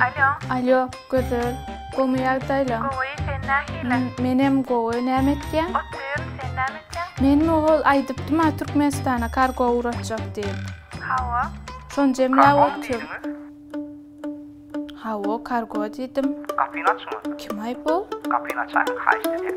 Alýo. Alýo, Gözel. Gowymy ýagdaýlaň? Gowy, sen nähili? Menem gowy. Näme etýäň? Otyryn, sen näme etýäň? Menmi owal aýdypdym-a Türkmenistana kargo ugratjak diýip. Hawa. Şony jemläp otyryn. Kargomy diýdiňiz? Hawa, kargo diýdim. Gapyny açyňyz. Kim-aý bu? Gapyny açaýyň, haýyşt edýän.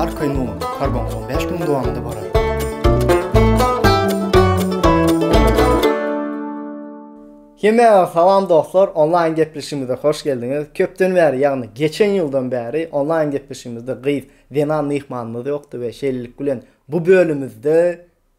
Arkaýyn oňa, karbon soň bäş günüň dowamynda barar. Hemmäňize salam dostlar, onlaýn gepleşigimize hoş geldiňiz. Köpden bäri, ýagny geçen ýyldan bäri onlaýn gepleşigimizde gyz, zenan myhmanymyz ýokdy we şeýlelik bilen bu bölümimizde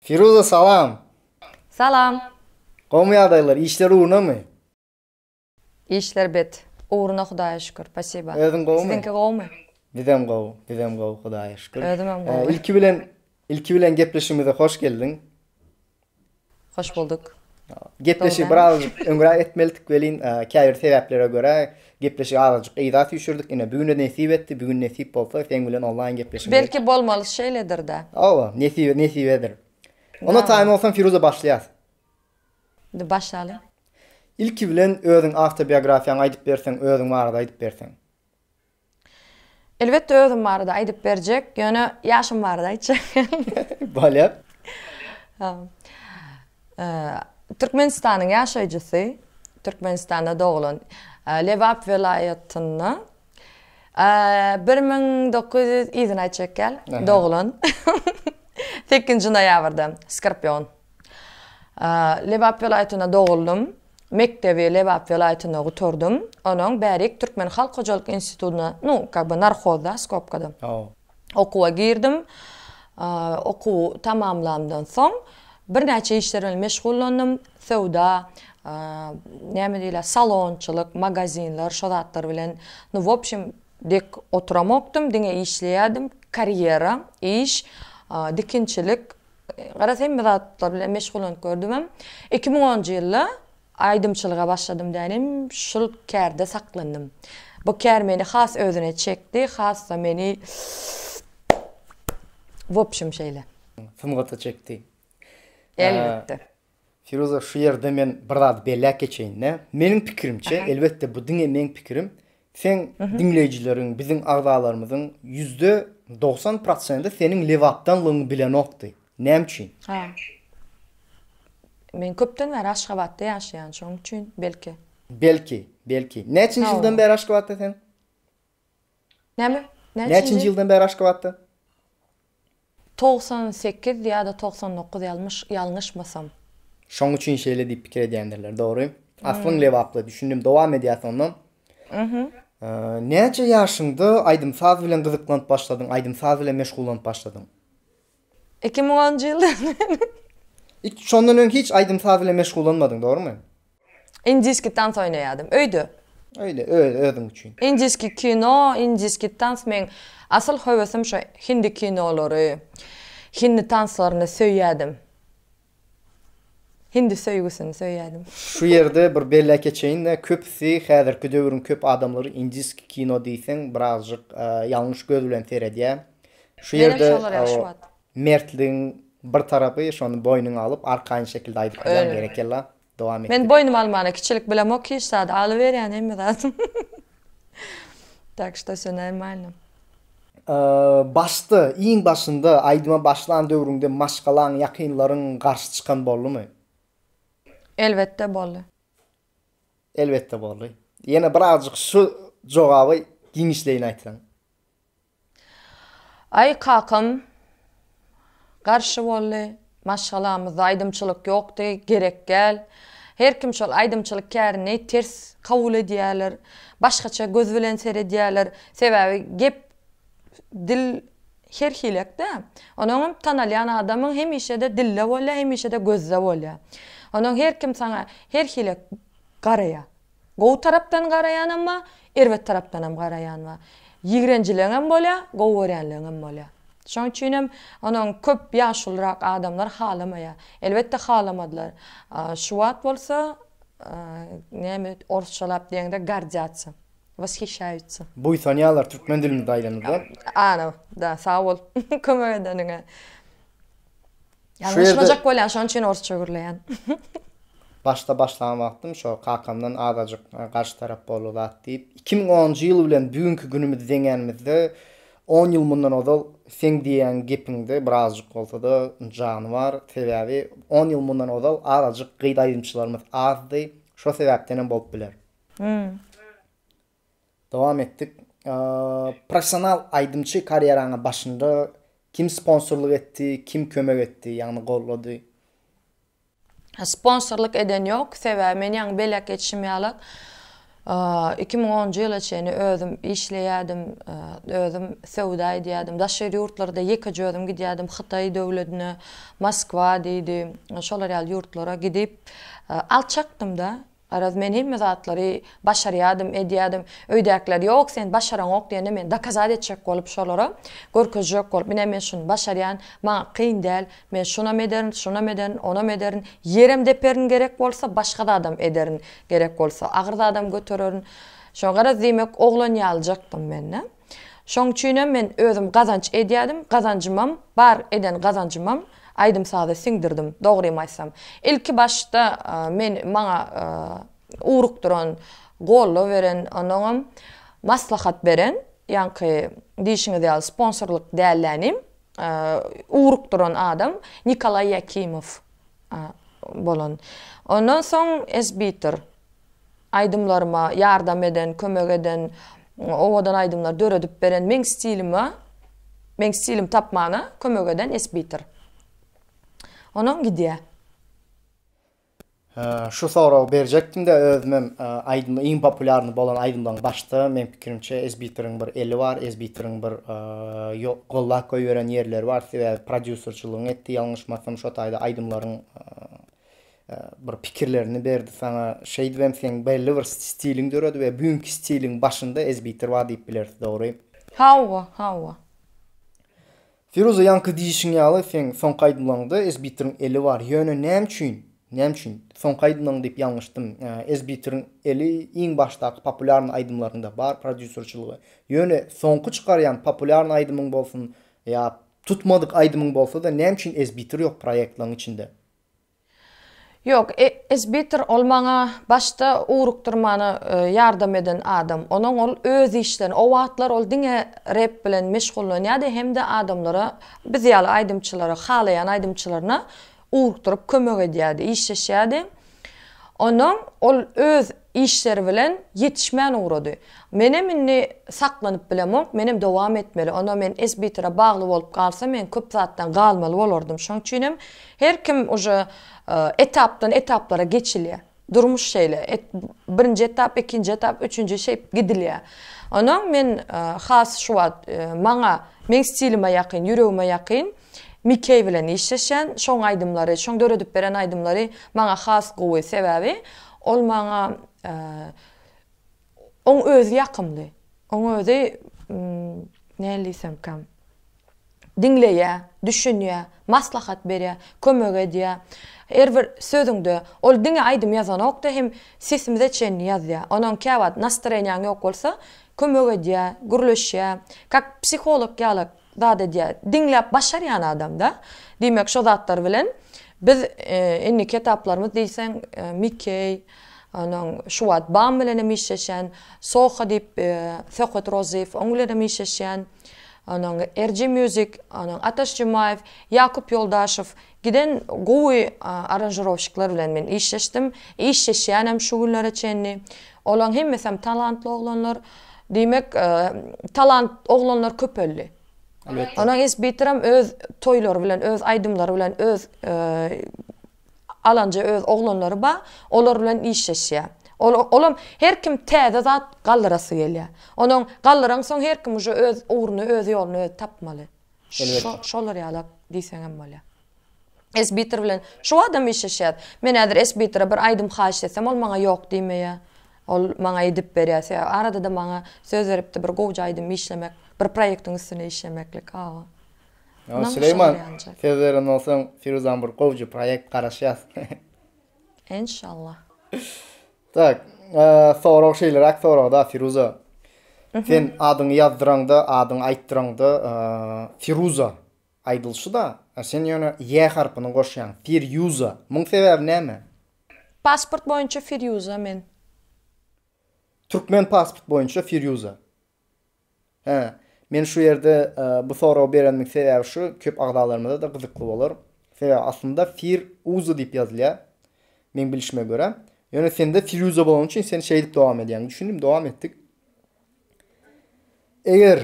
Firuza salam. Salam. Gowymy ýagdaýlar, işler ugrunamy? Işler bet. Ugruna Hudaýa şükür. Spasiba. Özüň gowymy? Siziňki gowymy? Bizem gowy, bizem gowy Hudaýa şükür. Özümem gowy. Ilki bilen ilki bilen gepleşigimize hoş geldiň. Hoş bolduk. Gepleşigi birazajyk öňräk etmelidik welin käbir sebäplere görä Gepleşigi azajyk yza süýşürdik ine bigüne nesip etdi bigün nesip bolsa seň bilen onlaýn gepleşiň gerek. Belki bolmaly şeýledirda. Hawa nesibe nesibedir. Onda taýyn bolsaň Firuza başlaýas. Indi başlaly. Ilki bilen özüň awtobiografiýaňy aýdyp berseň özüň barada aýdyp berseň. Elbetde özüm barada aýdyp berjek ýöne ýaşym barada aýtjak. Bolýar. Türkmenistanyň ýaşaýjysy, Türkmenistanda doglan, Lebap welaýatynda bir müň dokuz ýüz yzyn aý çekýär, doglan, sekizinji noýabrda, Skorpion. Lebap welaýatynda doguldym, mekdebi Lebap welaýatynda gutardym, onuň bärik Türkmen halk hojalyk institutyna, nu, kak be, narhozda, skopkada. Okuwa girdim. Okuw tamamlandan soň birnäçe işler bilen meşgullandym. Söwda, näme diýler, salonçylyk, magazinler, şo zatlar bilen, nu, w opşem, dek oturamokdym, diňe işleýärdim. Karýera, iş, dikinçilik, garaz, hemme zatlar bilen meşgullanyp gördümem. Iki müň onunjy ýylda Aýdymçylyga başladym dänim, şul kärde saklandym. Bu kär meni has özüne çekdi, has-da meni w opşum şeýle. Sungata çekdi. Elbetde. Firuza şu ýerde men bir zady belläp geçeýin-de. Meniň pikirimçe, elbetde bu diňe meň pikirim, Seň diňleýjileriň, biziň agzalarymyzyň ýüzde dogsan prosenti seniň lebapdanlygyňy bilenokdy. Näme üçin? Men köpden bäri Aşgabatda ýaşaýan, şonuň üçin, belki. Belki, belki. Näçinji ýyldan bäri Aşgabatda sen? Näme? Näçinji ýyldan bäri Aşgabatda? Togsan sekiz ýa-da togsan dokuz ýalmyş, ýalňyşmasam. Şoň üçin şeýle diýip pikir edýändirler, dogry. Aslyň Lebaply, düşündim, dowam edýäs onda. Näçe ýaşyňda aýdym-saz bilen gyzyklanyp başladyň, aýdym-saz bilen meşgullanyp başladyň? Iki müň onunjy ýyldan bäri. Şondan öň hiç aýdym-saz bilen meşgullanmadyň, dogrumy? Indiski tans oýnaýadym. Öýde. Öýde öz özüň üçin. Indiski kino, indiski tans meň asyl höwesim şo hindi kinolary, hindi tanslaryny söýýädim. Hindi söýgüsini söýýädim. Şu ýerde bir belläp geçeýin-de, köpüsi häzirki döwrüň köp adamlary indiski kino diýseň birazjyk ýalňyş göz bilen seredýär. Şu ýerde o Mertligiň bir tarapy şony boýnuňa alyp arkaýyn şekilde aýdyp bilýäň berekella dowam et. Men boýnuma almana kiçilik bilemok hiç zady alyberýän hemme zadym tak şto wsё normalno. Başda, iň başynda, aýdyma başlan döwrüňde maşgalaň, ýakynlaryň garşy çykan boldumy? Elbetde boldy. Elbetde boldy. Ýene birazjyk şu jogaby giňişleýin aýtsaň. Aý kakam garşy boldy, maşgalamyzda aýdymçylyk ýokdy, gerek däl. Her kim şol aýdymçylyk kärini ters kabul edýärler, başgaça göz bilen seredýärler. Sebäbi gep, dil her hilek-dä. Onuň hem tanalýan adamyň hemişe-de dilde bolýar, hemişe-de gözde bolýar. Onuň her kim saňa her hilek garaýar. Gowy tarapdan garaýanam bar, erbet tarapdanam garaýan bar. Ýigrenjileňem bolýar, gowy görýänleňem bolýar. Şoň üçinem onuň köp ýaşulyrak adamlar halamaýar. Elbetde halamadylar. Şu wagt bolsa näme orsçalap diýeňde gordýatsa, washyşaýutsa. Buýsanýarlar türkmen dilimizde aýdanyňda. Ana, da, sag bol kömek edeniňe. Ýalňyşmajak bolýan, şonuň üçin orsça gürleýän. Başda başlan wagtym şo kakamdan azajyk garşy tarap boldy zat diýip, iki müň onunjy ýyl bilen bu günki günümizi deňänimizde, on ýyl mundan ozal seň diýýän gepiňde birazjyk bolsa-da jany bar. Sebäbi on ýyl mundan ozal azajyk gyz aýdymçylarymyz azdy. Şo sebäpdenem bolup biler. Hum. Dowam etdik. Professional aýdymçy karýeraňa başynda kim sponsorlyk etdi, kim kömek etdi, ýagny gollady? Sponsorlyk eden ýok, sebäbi men ýaňy belek geçişim ýalak iki müň onunjy ýyla çenli özüm işleýärdim, özüm söwda edýärdim, daşary ýurtlarda ýekeje özüm gidýärdim, Hytaý döwledine, Moskwa diýdi, şolar ýaly ýurtlara gidip alçakdym-da. Garaz, men hemme zatlary başarýadym, edýädim. Öýdäkiler, Ýok, sen başaraňok diýende, men dokazat etjek bolup şolara, görkezjek bolup, Mine, men şuny başarýan, maňa kyn däl. Men şunam ederin, şunam ederin, onam ederin. Ýerem deperin gerek bolsa, başga zadam ederin gerek bolsa. Agyr zadam götererin. Şoňa garaz, diýmek, oglan ýalyjakdym men-de. Şoň üçinem men özüm gazanç edýädim, gazanjymam bar, eden gazanjymam aýdym-saza siňdirdim, dogrymy aýtsam. Ilki başda men maňa ugrukdyran, goldaw beren, onnoňam maslahat beren, ýaňky diýşiňiz ýaly sponsorlyk dällänim, ugrukdyran adam Nikolaý Ýakimow bolan. Ondan soň Esbitor. Aýdymlaryma ýardam eden, kömek eden, owadan aýdymlar döredip beren, meň stilime, meň stilimi tapmana kömek eden Esbitir. Onam gidýä. Şu soragy berjekdim-de özümem aýdym iň populýarny bolan aýdymlaryň başda meň pikirimçe Esbitiriň bir eli bar, Esbitiriň bir gollap goýberen ýerleri bar sebäbi prodýuserçylygyny etdi ýalňyşmasam şo taýda aýdymlaryň bir pikirlerini berdi saňa. Şeýdibem seň belli bir stiliň döredi we büinki stiliň başynda ezbitrwa diýip bileris, dogry? Hawa, hawa. Firuza ýaňky diýişiň ýaly seň soňky aýdymlaňda ezbitriň eli bar. Ýöne näme üçin, näme üçin, soňky aýdymlaň diýip ýalňyşdym. Ezbitriň eli iň başdaky populýarny aýdymlaryňda bar prodýuserçiligi. Ýöne soňky çykarýan populýarny aýdymyň bolsun ýa tutmadyk aýdymyň bolsa-da näme üçin ezbitr ýok proýektlaň içinde? Ýok, Esbitir ol maňa başda ugrukdyrmana ýardam eden adam. Onuň ol öz işlerini, o wagtlar ol diňe rep bilen meşgullanýardy hem-de adamlara, biz ýaly aýdymçylara, halaýan aýdymçylaryna ugrukdyryp kömek edýärdi, işleşýärdi. Onuň ol öz Işleri bilen ýetişmän ugrady. Menem indi saklanyp bilemok, menem dowam etmeli. Onda men SBTR-a bagly bolup galsam, men köp zatdan galmaly bolardym. Şoň üçinem her kim uje etapdan etaplara geçilýär. Durmuş şeýle, birinji etap, ikinji etap, üçünji şeýp gidilýär. Ondan men has şu wagt maňa, meň stilime ýakyn, ýüregime ýakyn. Mikeý bilen işleşen şoň aýdymlary şoň döredip beren aýdymlary maňa has gowy sebäbi ol maňa oň özi ýakymly oň özi näl diýsemkä diňleýä düşünýä maslahat berýä kömek edýä her bir sözüňde ol diňe aýdym ýazanokda hem sesimize çenli ýazýa onoň käwagt nastreniýaň ýok bolsa kömek edýä gürleşýä kak psiholog ýalak zat edýär. Diňläp başarýan adamda, diýmek şo zatlar bilen biz indiki etaplarymyz diýseň Mikey, onuň şu wagt Bam bilen hem işleşen, Soho diýip Söhbet Rozyýew oň bilen hem işleşýän, onuň RG Music, onuň Ataş Jumaýew, Ýakup Ýoldaşow Giden gowy aranžirowşikler bilen men işleşdim, işleşýänem şu günlere çenli. Olaň hemmesem talantly oglanlar. Diýmek, talant oglanlar köpeldi. Onuň isbitrem öz toýlary bilen, öz aýdymlary bilen, öz alanja öz oglanlary bar, olar bilen işleşýär. Ol olam her kim täze zat galdyrasy gelýär. Onuň galdyransoň her kim uje öz ugruny, öz ýoluny özi tapmaly. Elbet. Şolar ýalak diýseňem bolýar. Esbitor bilen şu badam işleşýäs. Men häzir Esbitora bir aýdym haýyş etsem ol maňa ýok diýmeýä. Ol maňa edip berýä. Sebäbi arada-da maňa söz beripdi bir gowja aýdym işlemek, bir proýektiň üstüne işlemeklik. Hawa. Ýa Süleýman söz beren bolsaň Firuzan bir gowja proýekt garaşýas. Enşallah. Tak, sorag şeýleräk soragda Firuza. Sen adyňy ýazdyraňda, adyňy aýtdyraňda Firuza aýdylşy-da, a sen ýöne ýe harpyny goşýaň, Firýuza. Muň sebäbi näme? Pasport boýunça Firýuza men. Türkmen pasport boýunça Firýuza. Hä, men şu ýerde bu soragy berenimiň sebäbi şu, köp agzalarymyza-da gyzykly bolar. Sebäbi aslynda Fir uza diýip ýazylýar, meň bilişime görä. Ýöne sende Firýuza bolany üçin sen şeýdip dowam edýäň. Düşündim, dowam etdik. Eger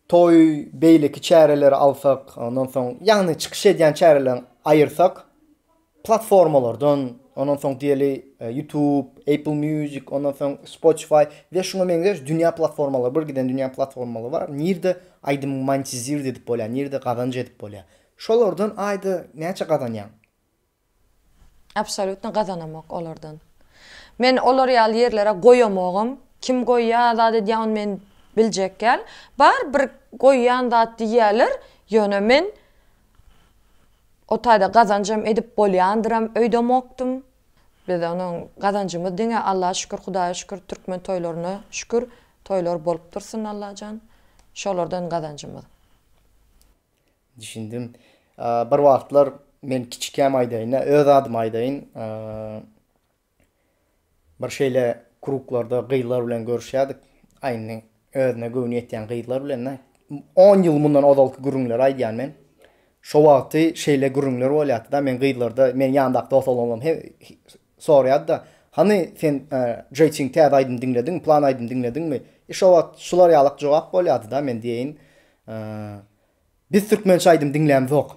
toý beýleki çäreleri alsak, ondan soň, ýagny çykyş edýän çäreleriň aýyrsak, platformalardan, ondan soň diýeli YouTube, Apple Music, ondan soň Spotify we şuňa meňzeş dünýä platformalary, bir giden dünýä platformalary bar, nirde aýdymy monetizird edip bolýar, nirde gazanç edip bolýar. Şolardan aýda näçe gazanýaň? Absolýutno gazanamok olardan. Men olar ýaly ýerlere goýamogam. Kim goýýar, zat edýär ony men biljek däl. Bar bir goýýan zat diýýärler, ýöne men O taýda gazanjam edip bolýandyram öýdemokdym. Biz onuň gazanjymyz diňe Alla şükür Hudaýa şükür türkmen toýlaryna şükür toýlar bolup dursun Allajan şolardan gazanjymyz. Düşündim. Bir wagtlar men kiçikäm aýdaýynda öz adymy aýdaýyn. Bir şeýle kruglarda gyzlar bilen görüşýärdik. Aýny özüne göwni ýetýän gyzlar bilen-de. On ýyl mundan ozalky gürrüňleri aýdýan men. Şo wagty şeýle gürrüňler bolýardy-da, men gyzlarda, meniň ýanymdaky dos oglanlarym he sorýardy-da, Hany, sen Jeýtiň täze aýdym diňlediňmi, plan aýdym diňlediňmi? E, şo wagt şular ýalak jogap bolýardy-da, men diýeýin, Biz türkmençe aýdym diňlämzok.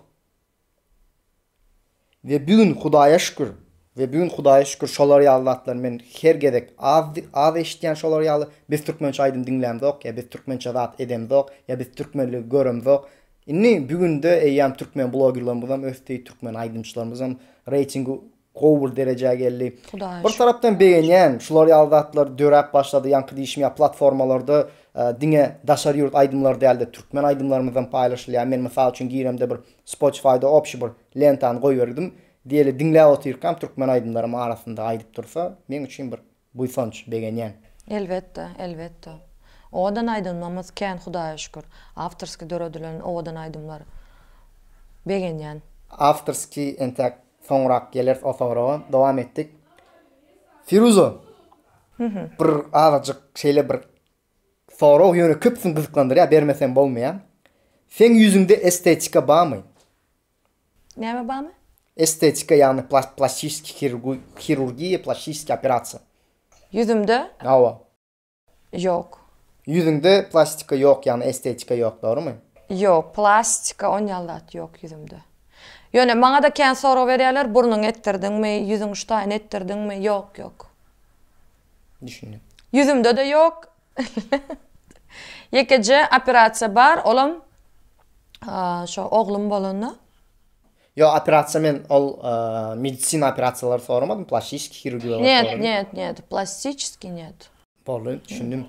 We bu gün Hudaýa şükür, we bu gün Hudaýa şükür şolar ýaly zatlary men her gezek az az eşitýän şolar ýaly biz türkmençe aýdym diňlämzok ýa biz türkmençe zat edemzok ýa biz türkmenligi göremzok indi bu günde eýýam türkmen blogerlarymyzam ösdi türkmen aýdymçylarymyzam reýtingi gowy bir derejä geldi. Bir tarapdan begenýän şular ýaly zatlar döräp başlady ýaňky diýişim ýaly platformalarda diňe daşary ýurt aýdymlary dälde türkmen aýdymlarymyzam paýlaşylýar men mysal üçin giremde bir spotifyda obşi bir lentany goýberdim diýeli diňläp otyrkam türkmen aýdymlarym arasynda aýdyp dursa meň üçin bir Buýsanç, begenýän. Elbetde, elbetde. Owadan aýdymymyz kän Hudaýa şükür. Awtorskiý döredilen owadan aýdymlar. Begenýän. Awtorskiý entäk soňrak geleris o soraga. Dowam etdik. Firuza! Bir azajyk şeýle bir sorag ýöne köpüsini gyzyklandyrýar, bermesem bolmaýar. Seň ýüzüňde estetika barmy? Näme barmy? Estetika, ýagny plastiski hirurgiýa, plastiski operasiýa. Ýüzümde? Hawa. Ýok. Ýüzüňde plastika ýok, ýagny estetika ýok, dogrumy? Ýok, plastika on ýaly zat ýok ýüzümde. Ýöne maňa-da kän sorag berýärler, burnuňy etdirdiňmi, ýüzüň ştaýyny etdirdiňmi? Ýok, ýok. Düşündim. Ýüzümde-de ýok, Ýekeje operasiýa bar, olam şo oglum bolanda. Ýok, operasiýa men ol medisina operasiýalary soramadym, plastiçiskiý hirurgiýa soradym. Njet, njet, njet, plastiçiskiý njet. Boldy, düşündim.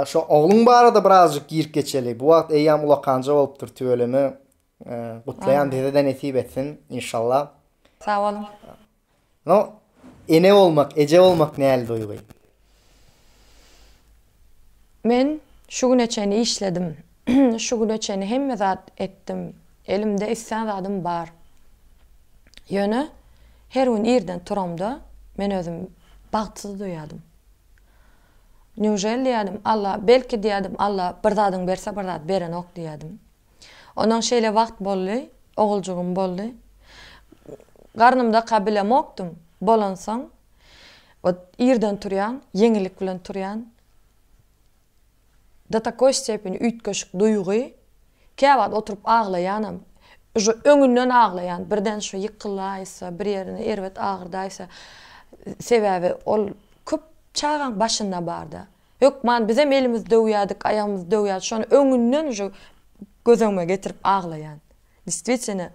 Şo ogluň barada birazjyk girip geçeli. Bu wagt eýýäm ulakanja bolupdyr, tüweleme. Gutlaýan bizede nesip etsin inşallah. Sag boluň. No ene bolmak eje bolmak näli duýgy. Men şu güne çenli işledim şu güne çenli hemme zat etdim elimde islän zadym bar ýöne her gün irden turamda men özüm bagtsyz duýadym newželi diýädim alla belki diýädim alla bir zadyň berse bir zat berenok diýädim Ondan şeýle wagt boldy, oguljygym boldy. Garnymdaka bilemokdym. Bolansoň, ot, irden turýan, ýeňillik bilen turýan. Do takoý stepeni üýtgeşik duýgy. Kä wagt oturyp aglaýanam. Uža öňünden aglaýan, birden şu ýykylaýsa, bir ýerini erbet agyrdaýsa. Sebäbi ol köp çagaň başynda barda. Hökman bizem elimiz döwýädik, aýagymyz döwýärdi, şony öňünden uje gözöňüme getirip aglaýan. Distwitene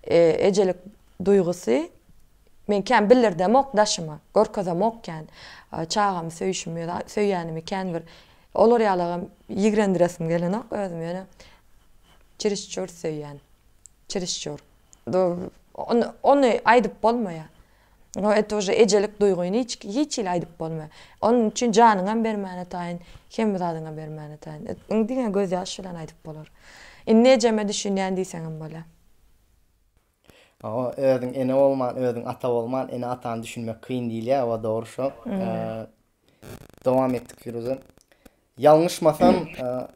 ejelik duýgusy men kän bildirdemok daşyma, görkezemok kän. Çagamy söýşimi ýa-da söýýänimi kän bir olar ýalagam ýigrendiresim gelenok özümi ýöne çirişçur söýýän. Çirişçur. Ony aýdyp bolmaýar. No et uje ejelik duýgyny hiç hiç hili aýdyp bolma. Onuň üçin janyňam bermäne taýyn, hemme zadyňam bermäne taýyn. Indi diňe göz ýaş bilen aýdyp bolar. Indi ejeme düşünýän diýseňem bolýa. Hawa özüň ene bolman özüň ata bolman ene atany düşünmek kyn diýilýä owa dogry şo. Dowam etdik Firuze. Ýalňyşmasam,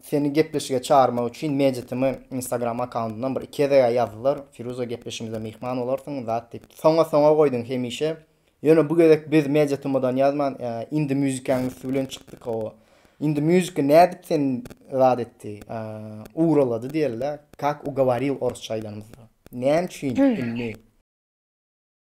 seni gepleşige çagyrmak üçin Mejitimi Instagram akkauntyndan bir iki gezeg-ä ýazdylar. Firuze gepleşigimize myhman bolarsyň, zat diýip. Soňa-soňa goýduň hemişe. Ýöne bu gezek biz Mejitimidan ýazman, Indie Music-iň üsti bilen çykdyk hawa. Indie Music nädip seni zat etdi, ugralady diýeli-dä, Kak ugawaril orsça aýdanymyzda. Näme üçin indi?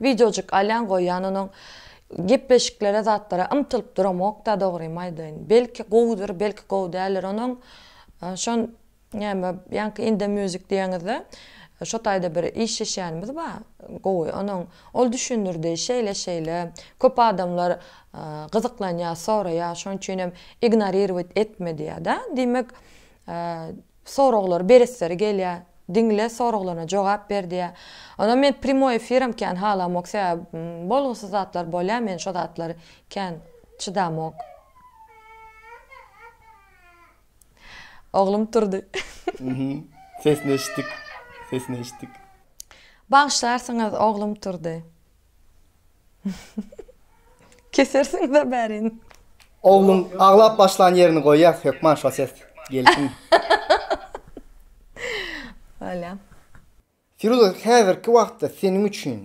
Wideojyk alýan goýýan onuň gepleşiklere zatlara ymtylyp duramokda dogrymy aýdaýyn. Belki gowudyr belki gowy däldir onuň şon näme ýaňky indie music diýeňizde şo taýda bir işleşýänimiz ba gowy onuň ol düşündirdi şeýle şeýle köp adamlar gyzyklanýa soraýa şoň üçinem ignorirowat etme diýýada diýmek Soraglary beresleri gelýär. Diňle soraglaryna jogap ber diýýär. Onam men primoý efiram kän halamok sebäbi bolgusyz zatlar bolýar men şo zatlary kän çydamok. Oglum turdy. Mhm. Sesini eşitdik. Sesini eşitdik. Bagyşlarsyňyz oglum turdy. Kesersiňiz a bärin. Ogluň aglap başlan ýerini goýýas hökman şo ses gelsin. Bolýa. Firuza häzirki wagtda seniň üçin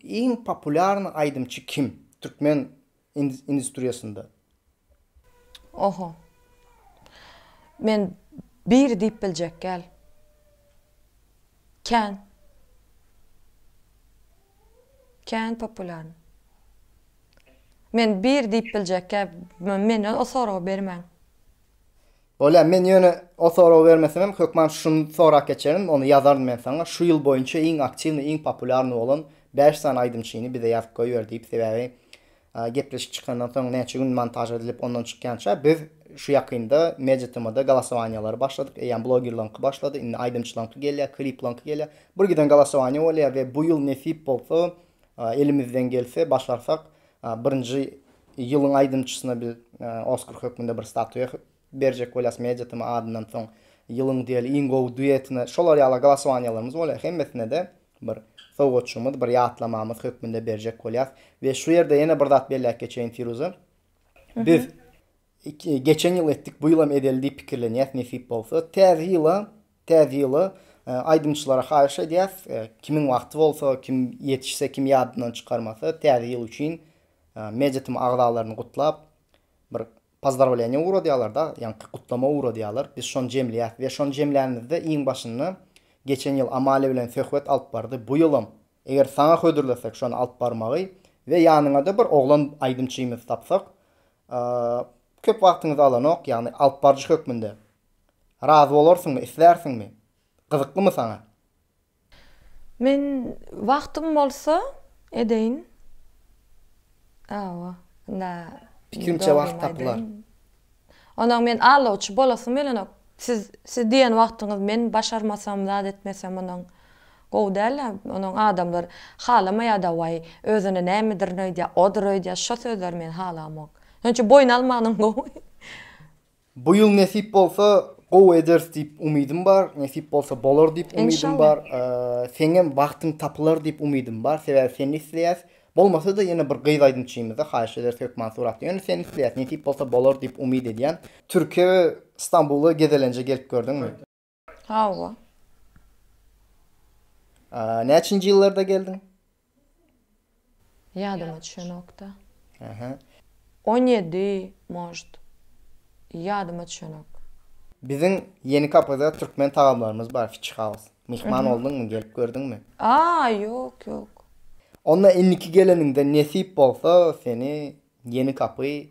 iň populýarny aýdymçy kim? Türkmen industriýasynda. Oho. Men biri diýip biljek gel. Kän. Kän populýarny. Men biri diýip biljek gel. Menden o soragy bermäň. Bolýar, men ýöne o soragy bermesemem, hökman şuny sorap geçerin, ony ýazaryn men saňa, şu ýyl boýunça iň aktiwnyý, iň populýarnyý bolan bäş sany aýdymçyny bize ýazyp goýber diýip, sebäbi gepleşik çykandan soň näçe gün montaž edilip, ondan çykýança biz şu ýakynda Media TM-da golasowaniýalary başladyk, eýýäm blogerlaryňky başlady, indi aýdymçylaryňky gelýär, kliplaryňky gelýär, birgiden golasowaniýa bolýar we bu ýyl nesip bolsa, elimizden gelse, başarsak, Birinji ýylyň aýdymçysyna biz Oskar hökmünde bir statuýa berjek bolýas Media TM adyndan soň ýylyň diýeli iň gowy duetine şolar ýaly glosowaniýalarymyz bolýar. Hemmesine-de bir sowgatjygymyz, bir ýatlamamyz hökmünde berjek bolýas. We şu ýerde ýene bir zat belläp geçeýin Firuza. Biz Geçen ýyl etdik, bu ýylam edeli diýip pikirlenýäs nesip bolsa. Täze ýyla, täze ýyla aýdymçylara haýyş edýäs, kimiň wagty bolsa, kim ýetişse, kim ýadyndan çykarmasa, täze ýyl üçin MediaTm agzalaryny gutlap, bir pozdrawleniýa ugradýarlar-da, ýaňky gutlama ugradýarlar, biz şony jemleýäs we şony jemlänimizde iň başynda geçen ýyl Amalia bilen söhbet alyp bardy, bu ýylam eger saňa hödürlesek şony alyp barmagy we ýanyňada bir oglan aýdymçymyzy tapsak, Köp wagtyňyzy alanok, ýagny alyp baryjy hökmünde. Razy bolarsyňmy, islärsiňmi? Gyzyklymy saňa? Men wagtym bolsa edeýin. Hawa, indi Pikirimçe wagt tapylar. Onam men aldawçy bolasym gelenok. Siz, siz diýen wagtyňyz men başarmasam, zat etmesem onam Gowy däl-ä, onuň adamlar halamaýada waý, özüne nämedir öýdýä, odur öýdýä, şo sözleri men halamok. Şonça boýun almagynam gowy. Bu ýyl nesip bolsa gowy ederis diýip umydym bar, nesip bolsa bolar diýip umydym bar. Seňem wagtyň tapylar diýip umydym bar, sebäbi seni isleýäs. Bolmasa-da ýene bir gyz aýdymçymyzda haýyş ederis hökman suratly. Ýöne seni isleýäs, nesip bolsa bolar diýip umyt edýän. Türkiýä we Stambula gezelenje gelip gördüňmi? Hawa. A, näçinji ýyllarda geldiň? Ýadyma düşenokda. Aha. 17, может. Ýadyma düşenok. Biziň Ýeni kapyda türkmen tagamlarymyz bar, Fish House. Myhman bolduňmy, gelip gördüňmi? A, ýok, ýok. Onda indiki geleniňde nesip bolsa, seni Ýeni kapy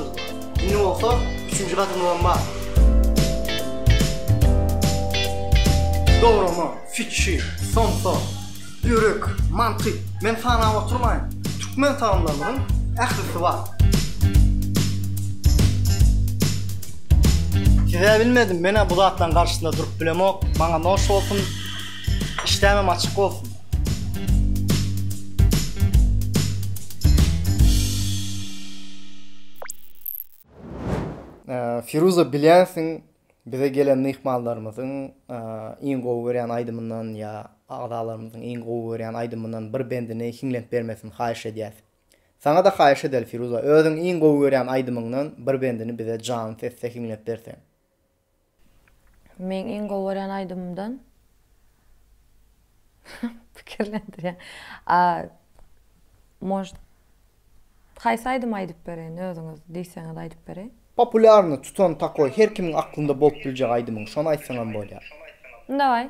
Indi bolsa üçünji gadymyzam bar. Dograma, fikhi, somsa, ýürek, mantyk, men sanap oturmaýyn. Türkmen tagamlarymyzyň ählisi bar. Size bilmedim, men-ä bu zatlaryň garşysynda durup bilemok. Maňa noş bolsun, işdämem açyk bolsun. Firuza bilýänsiň bize gelen myhmanlarymyzyň iň gowy görýän aýdymyndan ýa agzalarymyzyň iň gowy görýän aýdymyndan bir bendini hiňlenip bermesini haýyş edýäs. Saňa-da haýyş edeli Firuza özüň iň gowy görýän aýdymyňdan bir bendini bize janly sesde hiňlep berseň. Meň iň gowy görýän aýdymymdan pikirlendirýän. A Может, haýsy aýdymy aýdyp bereýin, özüňiz diýseňiz aýdyp bereýin. Populýarny tutan takoý her kimiň aklynda bolup biljek aýdymyň şony aýtsaňam bolýar. Daway.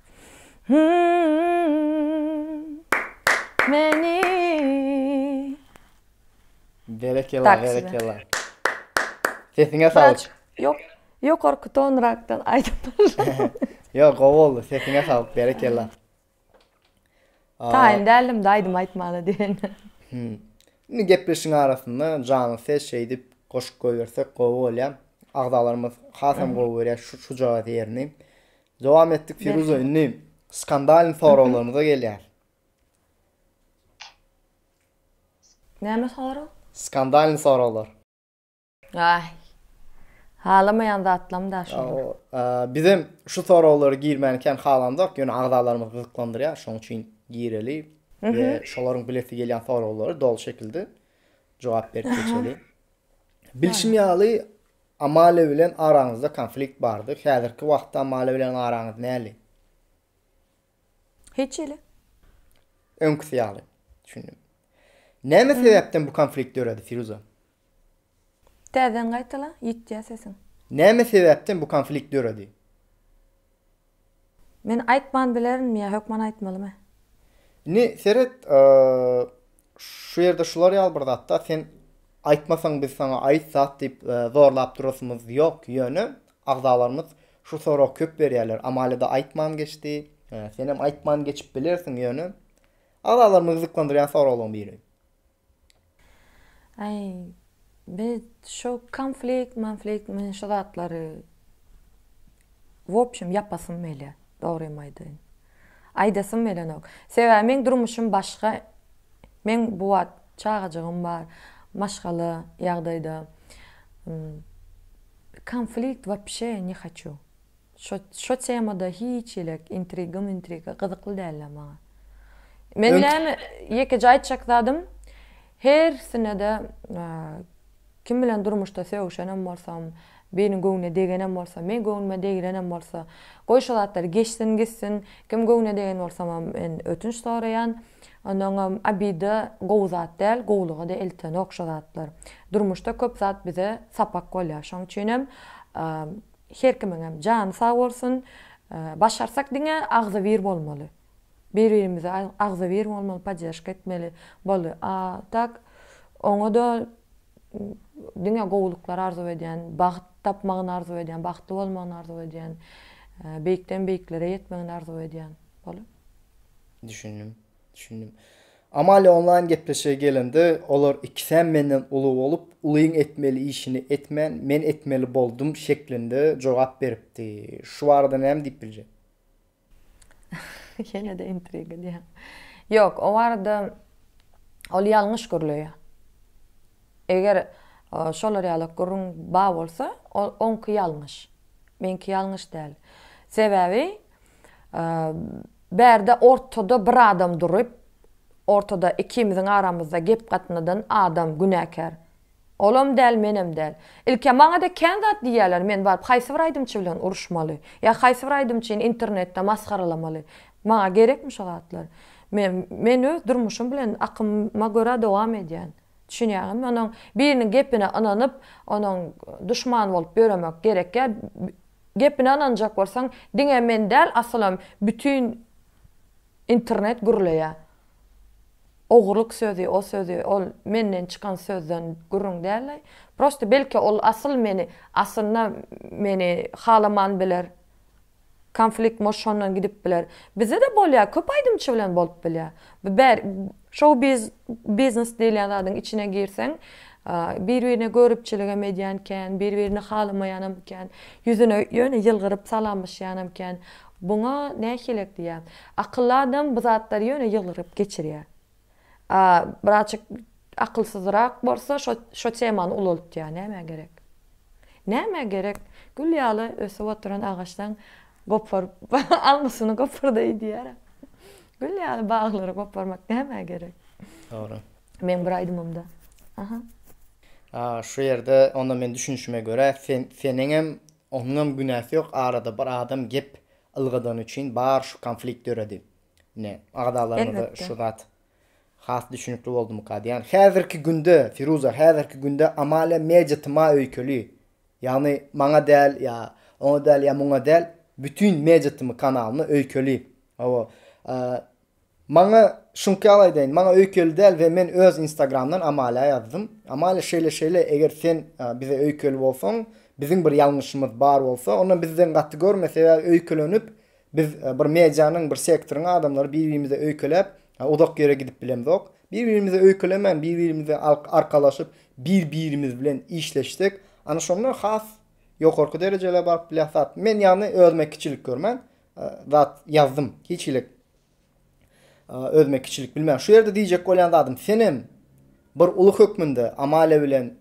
Meni Berekella, berekella. Sesiňe saglyk. Yok, ýokarky tonrakdan aýdypdyr. Yok, gowy boldy. Sesiňe saglyk, berekella. Taýyn däldim-de aýdym aýtmaga diýen. Indi gepleşigiň arasynda janly ses şeýdip goşup goýbersek gowy bolýar. Agzalarymyz hasam gowy görýär şu jogaz ýerini. Dowam etdik Firuza indi skandalny soraglarymyza gelýär. Näme sorag? Skandalny soraglar. Aý. Halamaýan zatlam da şol. Ýa o bizem şu soraglary girmänikäm halamzok, ýöne agzalarymyzy gyzyklandyrýar, şoň üçin gireli we şolaryň bilesi gelýän soraglary doly şekilde jogap berip geçeli. Bilşim ýaly, Amalia bilen araňyzda konflikt bardy, häzirki wagtda Amalia bilen araňyz näli? Hiç hili. Öňküsi ýaly. Düşündim. Näme sebäpden bu konflikt döredi, Firuza? Täzeden gaýtala, ýitýä sesiň. Näme sebäpden bu konflikt döredi? Men aýtman bilerinmi ýa hökman aýtmalymy? Indi seret, şu ýerde şular ýaly bir zatda sen aýtmasaň biz saňa aýt zat diýip zorlap durasymyz ýok, ýöne agzalarymyz şu soragy köp berýärler, Amalia-da aýtman geçdi, senem aýtman geçip bilersiň, ýöne agzalarmy gyzyklandyrýan soraglaryň biri. Aý, biz şo konflikt, monflikt men şo zatlary wobşem ýapasym welä, dogrymy aýdaýyn. Aýdasym welenok. Sebäbi meň durmuşym başga. Meň bu wagt çagajygym bar, maşgala ýagdaýda. Konflikt wobşe ne haçu. Şo şo temada hiç elek intriga mintriga gyzykly dälä maňa. Men Öňki näme ýekeje aýtjak zadym hersinede kim bilen durmuşda sögüşenem bolsam biriniň göwnüne degenem bolsam meň göwnüme degilenem bolsa goý şo zatlar geçsin gitsin kim göwnüne degen bolsamam men ötünç soraýan ondanam obida gowy zat däl gowulyga-da eltenok şo zatlar durmuşda köp zat bize sapak bolýar şoň üçinem Her kimiňem jany sag bolsun. Başarsak diňe agzybir bolmaly. Bir birimize agzybir bolmaly podderşka etmeli boldy. A tak oňada diňe gowulyklar arzuw edýän, bagt tapmagyny arzuw edýän, bagtly bolmagyny arzuw edýän. Beýikden beýiklere ýetmegini arzuw edýän. Boldy. Düşündim. Düşündim. Amalia onlaýn gepleşige gelende, olar ikisem menden uly bolup, ulyň etmeli işini etmän, men etmeli boldum şeklinde jogap beripdi. Şu barada näme diýip biljek? Ýene-de intriga edýäň. Ýok, o barada ol ýalňyş gürleýär. Eger şolar ýaly gürrüň bar bolsa, ol oňky ýalňyş. Meňki ýalňyş däl. Sebäbi Bärde ortada bir adam durup, ortada ikimiziň aramyzda gep gatnadan adam günäkär. Olam däl, menem däl. Ilki maňa-da kän zat diýýärler, men baryp haýsy bir aýdymçy bilen uruşmaly? Ýa haýsy bir aýdymçyny internetde masgaralamaly? Maňa gerekmi şo zatlar? Men, men öz durmuşym bilen akymyma görä dowam edýän. Düşünýäňizmi? Onuň biriniň gepine ynanyp, onuň duşman bolup ýöremek gerekýä. Gepine ynanjak bolsaň, diňe men däl asylam bütin internet gürleýä. Ogurlyk sözi, o sözi, ol menden çykan sözden gürrüň däl-aý. Prosta belki ol asyl meni, aslynda meni halaman biler. Konflikt moş şondan gidip biler. Bizde-de bolýa, köp aýdymçy bilen bolup bilýä. Bu bär Şou biz biznes diýilýän zadyň içine girseň, bir birine görüpçiligem edýän kän, bir birini halamaýanam kän, ýüzüne ýöne ýylgyryp salamlaşýanam kän. Buňa nähilek diýýän. Akylly adam bu zatlary ýöne ýylgyryp geçirýär. A biraçyk akylsyzrak bolsa şo şo temany ulaltýar. Nämä gerek? Nämä gerek? Gül ýaly ösüp oturan agaçdan goparyp almysyny gopar-da diýýär. Gül ýaly baglary goparmak nämä gerek? Dogry. Meň bir aýdymymda. Aha. A, şu ýerde onda men düşünişime görä, sen, seniňem, onuňam günäsi ýok, arada bir adam gep ylgadany üçin bar şu konflikt döredi. Ine, agzalaryňyza şu zat has düşünikli boldumyka diýýän. Häzirki günde, Firuza, häzirki günde Amalia Media tyma öýkeli. Ýagny maňa däl ýa oňa däl ýa muňa däl bütin medýatymy kanalymy öýkeli hawa maňa şuňky ýaly aýdaýyn maňa öýkeli däl we men öz instagramdan Amalia ýazdym Amalia şeýle şeýle eger sen bize öýkeli bolsaň biziň bir ýalňyşymyz bar bolsa onda bizden gaty görme sebäbi öýkelenip Biz bir medianyň, bir sektoryň adamlary bir-birimize öýkeläp, uzak ýere gidip bilemzok. Bir-birimize öýkelemän, bir-birimize arkalaşyp, bir-birimiz bilen işleşsek, ana şonda has ýokarky derejelere baryp bilýäs. Men ýagny özüme kiçilik görmän, zat ýazdym. Hiç hili Özüme kiçilik bilmän şu ýerde diýjek bolýan zadym senem bir uly hökmünde Amalia bilen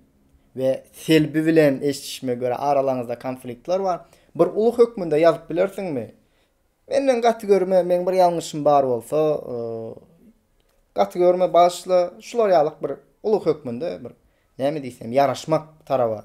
we Selbi bilen eşdişime görä aralaryňyzda konfliktler bar. Bir uly hökmünde ýazyp bilersiňmi? Menden gaty görme, meň bir ýalňyşym bar bolsa, gaty görme bagyşla, şular ýalyk bir uly hökmünde bir näme diýsem ýaraşmak taraba.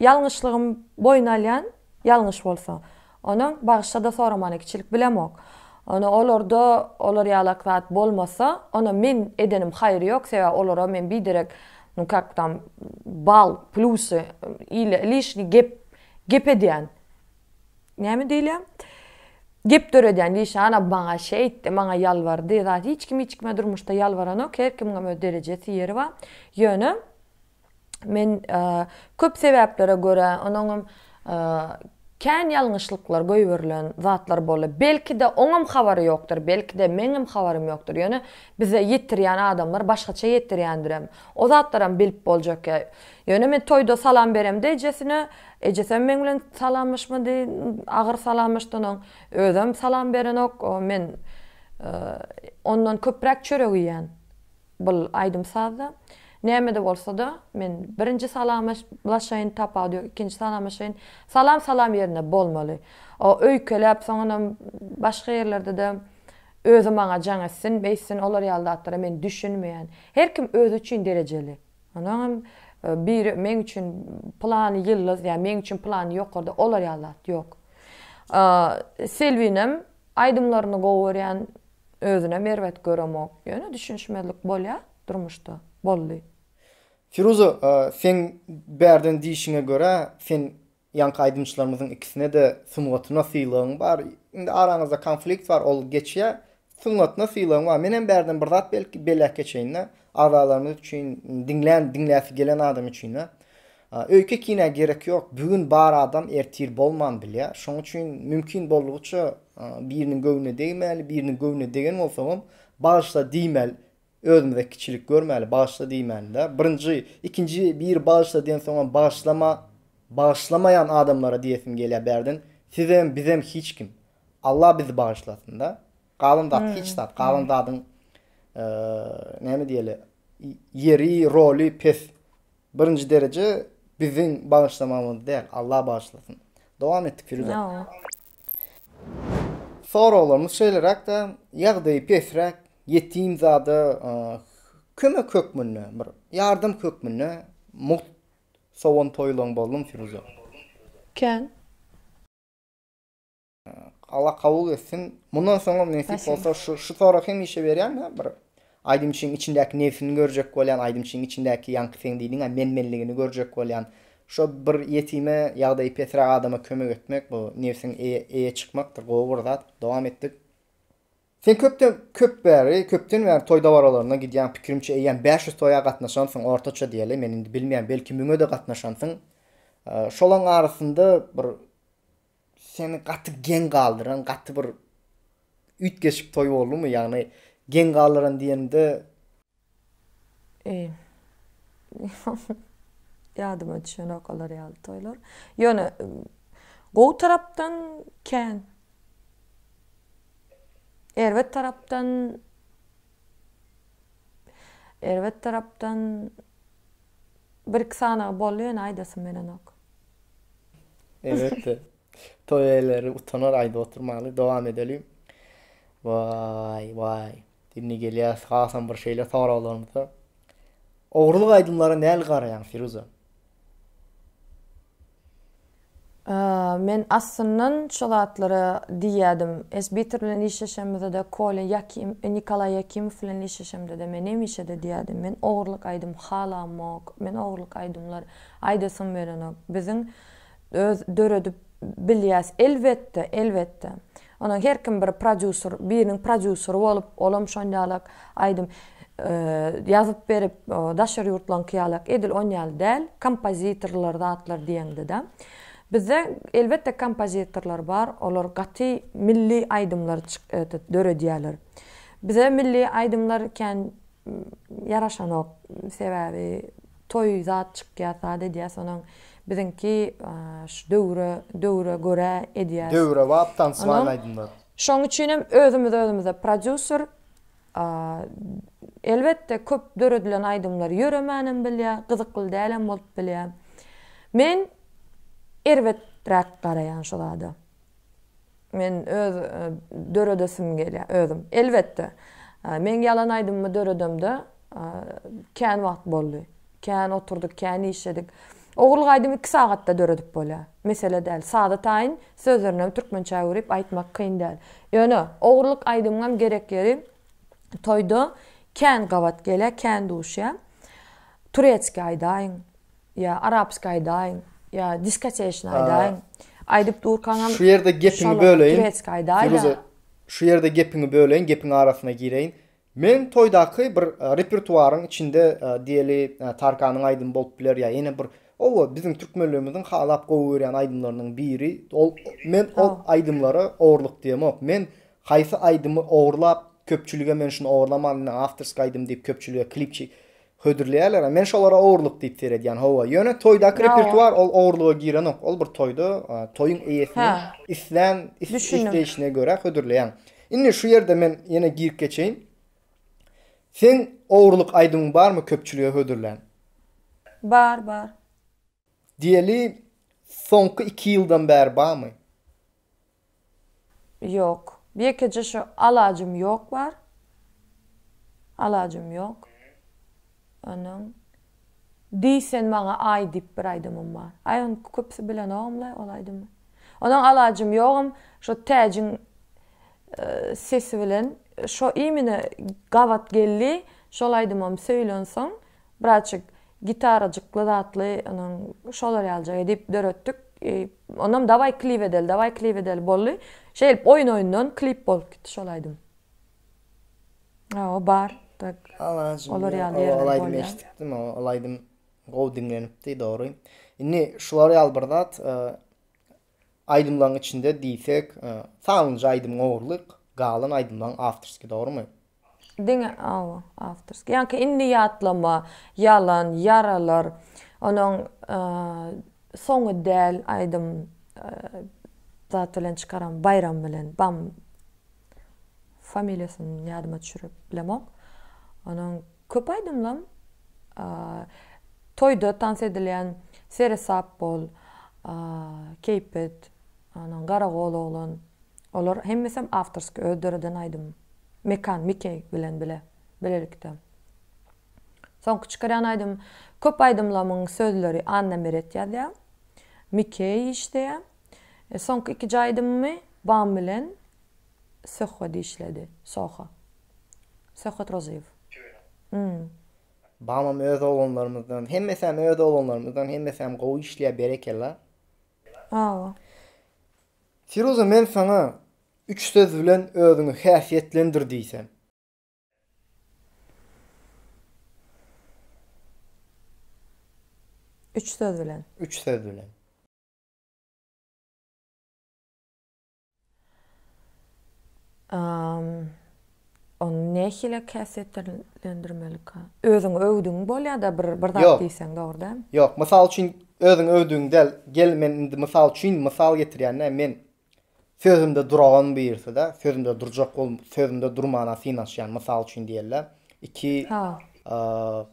Ýalňyşlygym boýun alýan ýalňyş bolsa. Onuň bagyşlada soramana kiçilik bilemok. Ony olarda olar ýalak zat bolmasa, ona men edenim haýry ýok, sebäbi olara men biderek, ну как там, bal, plusy, ile lişni gep, gep edýän. Näme diýilýär? Gep döredýän diýşi, ana maňa şeýtdi, maňa ýalbardy, zat hiç kim hiç kime durmuşda ýalbaranok, her kimiňem öz derejesi, ýeri bar. Ýöne. Men köp sebäplere görä, onuňam kän ýalňyşlyklar goýberilen zatlar boldy. Belki-de oňam habary ýokdur, belki-de meňem habarym ýokdur. Ýöne bize ýetirýän adamlar başgaça ýetirýändirem. O zatlaram bilip boljak. Ýöne men toýda salam beremde ejesine, ejesem meň bilen salamlaşmady, agyr salamlaşdan oň. Özem salam berenok. Men ondan köpräk çörek iýýän. Bul aýdym-sazda, nämede bolsada, men birinji salamaş laşaýyn, tapagy ýok, ikinji salamaşaýyn. Salam salam ýerinde bolmaly. O öýkeläp, soňanam başga ýerlerde-de özi maňa jaň etsin, beýtsin, olar ýaly zatlara men düşünmeýän. Her kim özi üçin derejeli. Onuňam biri meň üçin pylany ýyldyz, ýa meň üçin pylany ýokarda, olar ýaly zat ýok. Selbinem Aýdymlaryny gowy görýän özünem erbet göremok ýöne düşünişmezlik bolýa durmuşda boldy. Firuza seň bärden diýişiňe görä sen ýaňky aýdymçylarymyzyň ikisinede sungatyna sylagyň bar indi araňyzda konflikt bar ol geçýä sungatyna sylagyň bar menem bärden bir zat belki belläp geçeýinda agzalarymyz üçin diňlän diňläsi gelen adam üçinä Öýke kinä gerek ýok, bigün bar adam ertir bolman bilýär, şoň üçin mümkin boldugyça biriniň göwnüne degmäli, biriniň göwnüne degen bolsaňam bagyşla diýmel, özümize kiçilik görmäli, bagyşla diýmälidä, birinji, ikinji biri bagyşla diýensoňam bagyşlama, bagyşlamaýan adamlara diýesim gelýär bärden, sizem, bizem hiç kim. Alla bizi bagyşlasynda. Galan zat hiç zat, galan zadyň näme diýeli, ýeri, roly pes. Birinji dereje biziň bagyşlamagymyz däl Allah bagyşlasyn. Dowam etdik Firuza. Soraglarymyz şeýleräkde ýagdaýy pesräk ýetim zada kömek hökmünde bir ýardam hökmünde mugt sowan toýlaň bolduň Firuza. Kän. Alla kabul etsin. Mundan soňam nesip bolsa şu şu soragy hemişe berýän ha bir aýdymçyň içindäki nebsini görjek bolýan, aýdymçyň içindäki ýaňky sen diýdiň-ä men-menligini görjek bolýan. Şo bir ýetime, ýagdaýy pesräk adama kömek etmek bu nebsiň eýe çykmakdyr. Gowy bir zat. Dowam etdik. Sen köpden köp bäri, köpden bäri toý dabaralaryna gidýäň, pikirimçe eýýäm bäş ýüz toýa gatnaşansyň ortaça diýeli, men indi bilmeýän, belki müňe-de gatnaşansyň. Şolaň arasynda bir Seni gaty geň galdyran gaty bir üýtgeşik toý boldumy ýagny geň galdyran diýenimde. Ýadyma düşenok olar ýaly toýlar. Ýöne gowy tarapdan kän. Erbet tarapdan erbet tarapdan bir iki sanagy boldy ýöne aýdasym gelenok. Elbetde. Toý eýeleri utanar aýdyp oturmaly. Dowam edelim. Waý, waý. Indi gelýäs hasam bir şeýle soraglarymyza. Ogurlyk aýdymlara näli garaýaň, Firuza? Men aslyndan şo zatlara diýýädim. Esbitor bilen işleşemizde-de, Kolýa Ýakim, Nikolaý Ýakimow bilen işleşemde-de men hemişe-de diýýädim, men ogurlyk aýdym halamok, men ogurlyk aýdymlar Aýdasym gelenok. Biziň öz döredip bilýäs. Elbetde, elbetde. Onuň her kim bir prodýuser, biriniň prodýuseri bolup, olam şon ýalak aýdym ýazyp berip, daşary ýurtlaňky ýalak edil on ýaly däl, kompozitorlar zatlar diýeňde-de. Bizde elbetde kompozitorlar bar, olar gaty milli aýdymlar döredýärler. Bize milli aýdymlar kän ýaraşanok. Sebäbi toý zat çykýas zat edýäs onuň biziňki şu döwre döwre görä edýäs. Döwrebap tansmaýyl aýdymlar. Şoň üçinem özümiz özümize prodýuser elbetde köp döredilen aýdymlar ýöremänem bilýä, gyzykly dälem bolup bilýä. Men erbeträk garaýan şu zada. Men öz döredesim gelýär, özüm. Elbetde, men ýalan aýdymymy döredemde kän wagt boldy. Kän oturdyk, kän işledik. Ogurlyk aýdymy iki sagatda döredip bolýar. Mesele däl. Saza taýyn, sözlerinem türkmençä öwrüp aýtmak kyn däl. Ýöne, ogurlyk aýdymyňam gerek ýeri toýda kän gabat gelýär, kän duşýar. Turetski aýdaýyň. Ýa arapski aýdaýyň, ýa diskoteşny aýdaýyň. Aýdyp durkaňam Şu ýerde gepiňi böleýin. Turetski aýdaý-da. Şu ýerde gepiňi böleýin, gepiň arasyna gireýin. Meň toýdaky bir repertuaryň içinde diýeli Tarkanyň aýdymy bolup biler ýa ýene bir oba biziň türkmenlerimiziň halap gowy görýän aýdymlarynyň biri. Ol men ol aýdymlara ogurlyk diýemok. Men haýsy aýdymy ogurlap köpçülige men şuny ogurlaman, men awtorski aýdym diýip köpçülige klipçi Hödürleýärler a men şolara ogurlyk diýip seredýän hawa ýöne toýdaky repertuar ol ogurlyga girenok ol bir toýda toýuň eýesiniň islän isleýşine görä hödürleýän indi şu ýerde men ýene girip geçeýin seň ogurlyk aýdymyň barmy köpçülige hödürlän bar bar Diýeli soňky iki ýyldan bäri barmy? Ýok. Ýekeje şu alajym ýok bar. Alajym ýok. Onuň Diý sen maňa aý diýip bir aýdymym bar. Aý ony köpüsi bilenogam-laý ol aýdymy. Onuň alajym ýogam şo Täjiň sesi bilen şo imine gabat geldi. Şol aýdymam söýlensoň Birazjyk gitarajykly zatly onuň şolar ýalyjak edip döretdik. Onam dawaý klip edeli, dawaý klip edeli boldy. Şeýdip oýun-oýundan klip bolup gitdi şol aýdym. Hawa bar tak olar ýaly ýerler bar. Aýdym eşitdim, ol aýdym gowy diňlenipdi dogry. Indi şular ýaly bir zat Aýdymlaň içinde diýsek Salynja aýdymyň ogurlyk galan aýdymlaň awtorski dogrymy? Diňe awa awtorski ýaňky indi ýatlama ýalan ýaralar onuň soňy däl aýdym zat bilen çykaram baýram bilen bam familiýasyny ýadyma düşürip bilemok onuň Köp aýdymlam toýda tans edilýän Seresap bol, Keýpet, anaň Garagol oglan, olar hemmesem awtorskiý, öz döreden aýdymym. Mekan, Mikeý bilen bile, bilelikde. Soňky çykarýan aýdymym, köp aýdymlamyň sözleri Annameret ýazýar, Mikeý işleýär. Soňky ikiji aýdymymy Bam bilen. Söhba dişledi. Soha. Söhbet Rozyýew. Ýöne. Babam öz oglanlarymyzdan, hemmesäm öz oglanlarymyzdan, hemmesäm gowy işleýär berekella. Awa. Firuza men saňa üç söz bilen özüňi häsiýetlendir diýsem. Üç söz bilen. Üç söz bilen. Ony nähili käsýetlendirmelika? Özüňi öwdüň bolýar-da bir bir zat diýseň, dogry dälmi? Ýok, mysal üçin özüňi öwdüň däl. Gel men indi mysal üçin mysal getirýän-dä men. Sözümde duragam birisi-de, sözümde durjak bol, sözümde durmana synanyşýan mysal üçin diýeli. Iki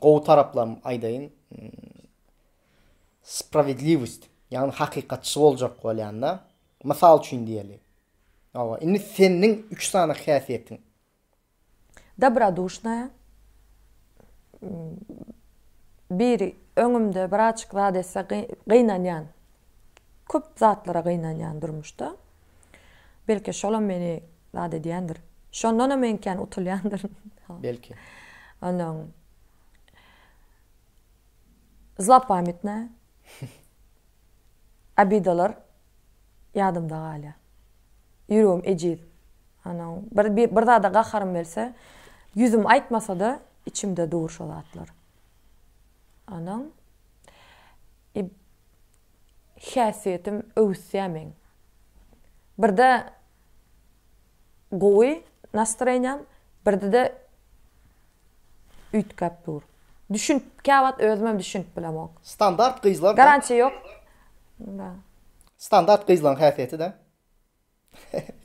gowy taraplam aýdaýyn. Sprawedliwost, ýagny hakykatçy boljak bolýan-da. Mysal üçin diýeli. Hawa, indi senniň üç sany häsiýetiň. Dobroduşnaýa. Bir öňümde bir açyk zat etse gynanýan. Köp zatlara gynanýan durmuşda. Belki şolam meni zat edýändir. Şondanam eňkän utulýandyryn. Belki. Ondan Zlopamytnaýa. obidalar ýadymda galýar. Ýüregim ejiz. Ana, bir bir zada gaharym gelse, ýüzüm aýtmasa-da, içimde dur şo zatlar. Ana, i häsiýetim öwüsýär meň. Birde Gowy nastreniýam birdi-de üýtgäp dur. Düşünip käwagt özümem düşünip bilemok. Standart gyzlar da. Garantiýa ýok. Da. Standart gyzlaň häsiýeti da.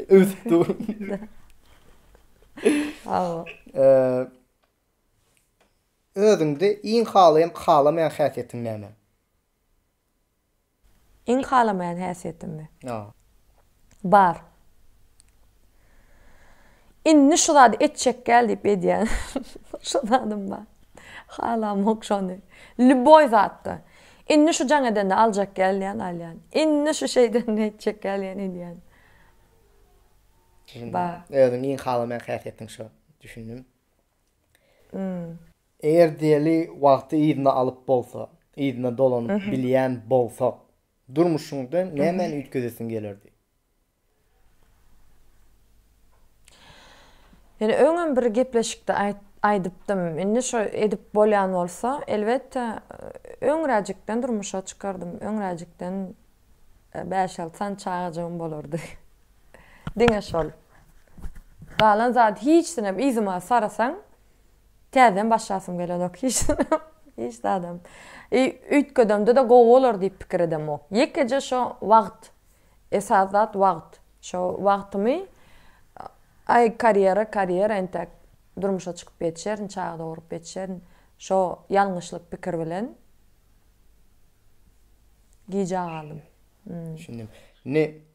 Öwsüp dur. Hawa. Özüňde iň halaýan halamaýan häsiýetiň näme? Iň halamaýan häsiýetimmi? Ýa. Bar. Indi şu zady etjekgäl diýip edýän şu zadym bar. Halamok şony. Lýuboý zatda. Indi şu jaň edende aljakgäl diýýän, alýan. Indi şu şeý edende etjekgäl diýýän, edýän. Düşündim. Bar. Özüň iň halamaýan häsiýetiň şo. Düşündim. Hmm. Eger diýeli wagty yzyna alyp bolsa, yzyna dolanyp bilýän bolsak, durmuşyňda nämäni üýtgedesiň gelerdi? Ýöne öňem bir gepleşikde aýdypdym. Indi şo edip bolýan bolsa, elbetde, öňräjikden durmuşa çykardym. Öňräjikden bäş-alty sany çagajygym bolardy. Diňe şol. Galan zady hiçsinem yzyma sarasaň, Täzeden başlasym gelenok hiç hiç zadam. I üýtgedemde-de gowy bolar diýip pikir edemok. Ýekeje şo wagt, esas zat wagt. Şo wagtymy aý karýera, karýera entäk durmuşa çykyp ýetişerin, çaga dogrup ýetişerin. Şo ýalňyşlyk pikir bilen gijä galdym. Düşündim. Indi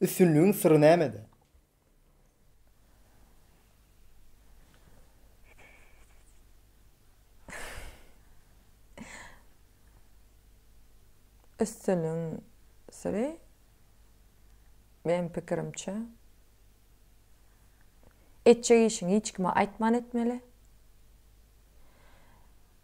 Üstünligiň syry nämede? Üstünligiň syry meniň pikirimçe etjek işiňi hiç kime aýtman etmeli.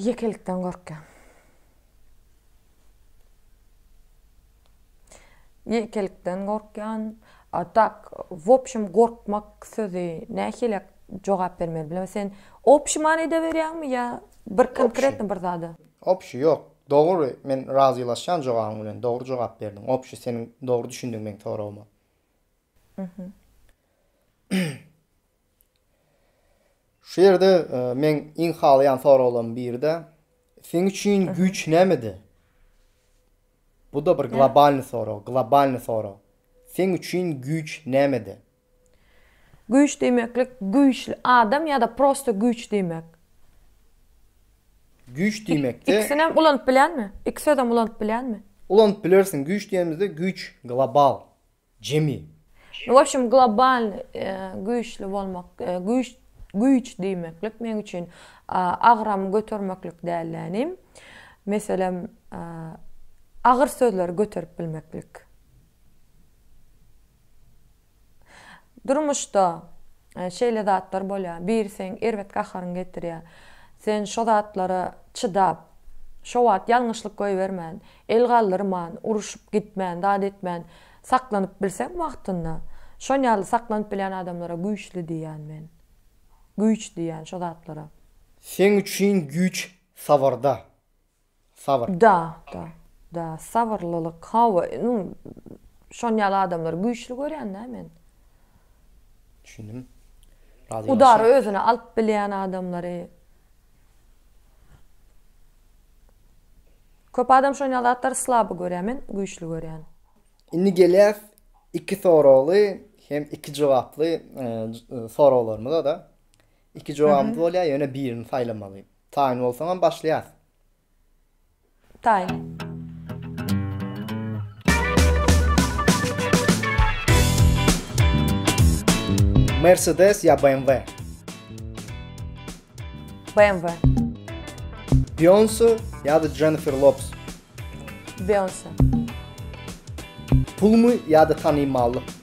Ýekelikden gorkýan. Ýekelikden gorkýan. A tak, wobşem gorkmak sözi nähili jogap bermeli bilemok. Sen obşi many edeberýäňmi ýa bir konkretno bir zada? Obşi, ýok. Dogry, men razylaşýan jogabyň bilen. Dogry jogap berdiň. Obşi, seniň dogry düşündiň meň soragyma. Şu ýerde e, men iň halaýan soraglaryň biri-de seň üçin güýç nämede? Bu da bir globalny sorag, globalny sorag. Seň üçin güýç nämede? Güýç diýmeklik güýçli adam ýa-da prosta güýç diýmek. Güýç diýmekde Ikisini hem ulanyp bilenmi? Iki sözem ulanyp bilenmi? Ulanyp bilersiň. Güýç diýenimizde güýç global. Jemi. Nu wobşem globalny güýçli bolmak güýç güýç diýmeklik meň üçin agramy götermeklik dälde inim. Meselem agyr sözleri göterip bilmeklik. Durmuşda şeýle zatlar bolýar biri seň erbet gaharyňy getirýär. Sen şo zatlara çydap şo wagt ýalňyşlyk goýbermän El galdyrman, uruşyp gitmän, zat etmän, saklanyp bilseň wagtynda, şon ýaly saklanyp bilýän adamlara güýçli diýýän men. Güýç diýýän şo zatlara. Seň üçin güýç sabyrda. Sabyr. Da, da, da, sabyrlylyk, hawa, indi şon ýaly adamlary güýçli görýän-dä men. Düşündim. Razylaşýan. Udary özüne alyp bilýän adamlary, Köp adam şoýna zatlary slaby görýär men güýçli görýän. Indi gelýäs iki soragly hem iki jogaply soraglarymyza da. Iki jogabymyz bolýar ýöne birini saýlamaly. Taýyn bolsaňam başlaýas. Taý. Mercedes ya BMW? BMW. Beyoncé ya da Jennifer Lopez? Beyoncé. Pul mu ya da tanımallık?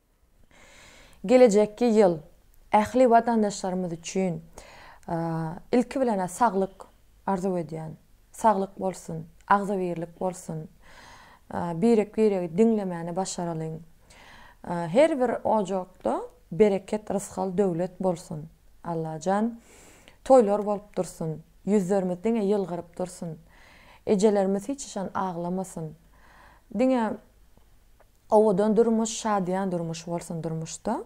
Gelejekki ýyl ähli watandaşlarymyz üçin ilki bilen-ä saglyk arzuw edýän. Saglyk bolsun, agzybirlik bolsun. Birek-biregi diňlemäni başaralyň. Her bir ojakda bereket, rysgal, döwlet bolsun. Allajan, toýlar bolup dursun. Ýüzlerimiz diňe ýylgyryp dursun. Ejelerimiz hiç haçan aglamasyn. Diňe Owadan durmuş şadyýan durmuş bolsun durmuşda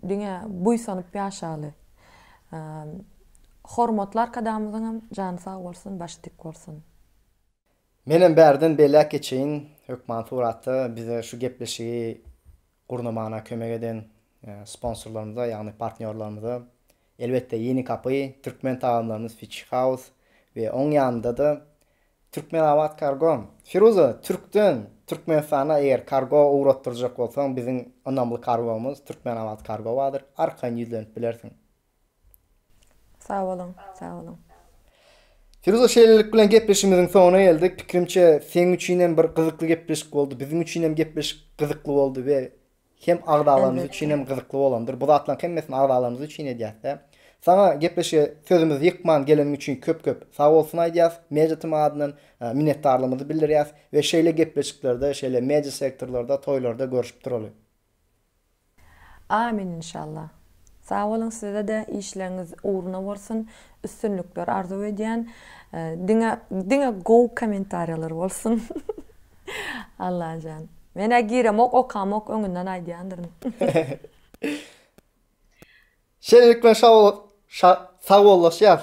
diňe buýsanyp ýaşaly hormatly arkadagymyzyňam jany sag bolsun başy dik bolsun. Menem bärden belläp geçeýin hökman suratda bize şu gepleşigi gurnamana kömek eden sponsorlarymyza ýagny partnýorlarymyza Elbetde Ýeni Kapy, Türkmen tagamlarymyz Fish House we oň ýanynda-da Türkmenabat Kargo. Firuza, Türkden Türkmenistana eger kargo ugratdyrjak bolsaň, biziň ynamly kargomyz Türkmenabat Kargo bardyr, arkaýyn ýüzlenip bilersiň. Sag boluň, sag boluň. Firuza, şeýlelik bilen gepleşigimiziň soňuna geldik. Pikirimçe, seň üçin hem bir gyzykly gepleşik boldy, biziň üçin hem gepleşik gyzykly boldy we Hem agzalarymyz üçin hem gyzykly bolandyr. Bu zatlaryň hemmesini agzalarymyz üçin edýäs-dä. Saňa gepleşige sözümizi ýykman geleniň üçin köp-köp sagbolsun aýdýas. Media tm adyndan minnetdarlygymyzy bildirýäs we şeýle gepleşiklerde, şeýle media sektorlarda, toýlarda görüşip duraly. Amin inşallah. Sag boluň sizede işleriňiz ugruna bolsun üstünlikler arzuw edýän diňe diňe gowy komentariýalar bolsun Allajan menä giremok okamok öňünden aýdýandyryn. Şeýlelikle şa sag bollaşýas.